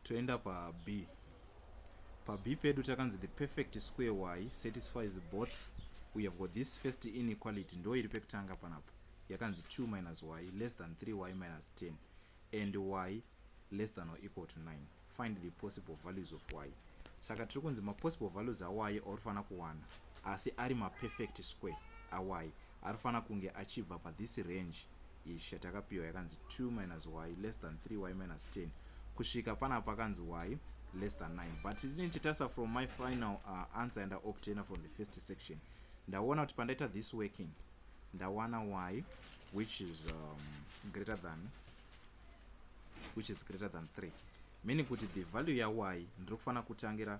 toenda pab pab pedu takanzi the perfect square y satisfies both we have got this first inequality ndo iri pekutanga panapo yakanzi 2 minus y less than 3y minus 10 and y less than or equal to 9 find the possible values of y saka tiri kunzi mapossible values awayi auri fanira kuwana asi ari maperfect square awayi ari fanira kunge achibva pathis range Ish yatakapiwa yakanzi 2 minus y less than 3 y minus 10 kusvika pana pakanzi y less than 9 but inini chitarisa from my final uh, answer yandaobtainer from the first section ndaona kuti pandaita this working ndawana y which is um, greater than which is greater than 3 meaning kuti the value ya y ndiri kufanira kutangira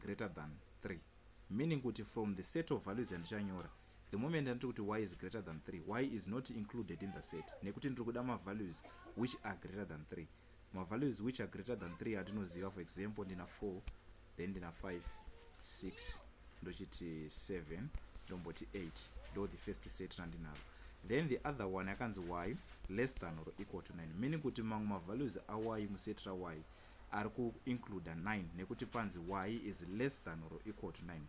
greater than 3 meaning kuti from the set of values yandichanyora the moment anditi kuti y is greater than 3 y is not included in the set nekuti ndiri kuda mavalues which are greater than 3 mavalues which are greater than 3 andinoziva for example ndina 4 then ndina 5 6 ndochiti 7 ndomboti 8 ndo the first set randinaro then the other one yakanzi y less than or equal to 9 meaning kuti mamwe mavalues awy muset rawy ari ku includer 9 nekuti panzi y is less than or equal to 9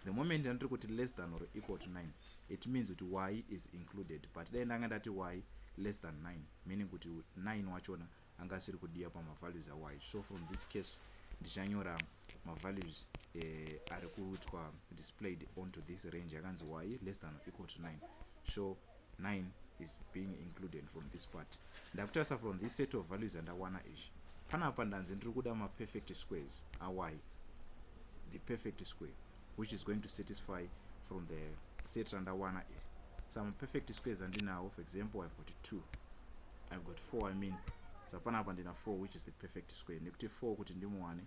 the moment yandiri kuti less than or equal to 9 it means kuti y is included but dai ndanga ndati y less than 9 meaning kuti 9 wachona anga asiri kudiya pamavalues awy so from this case ndichanyora mavalues eh, ari kuitwa displayed onto this range yakanzi y less than or equal to 9 so 9 is being included from this part ndakutarisa from this set of values andawana izvi panapa ndanzi ndiri kuda maperfect squares awai the perfect square which is going to satisfy from the set randawana iri some perfect squares andinawo for example i've got two i've got four i mean sapanapa ndina four which is the perfect square nekuti four kuti ndimuwane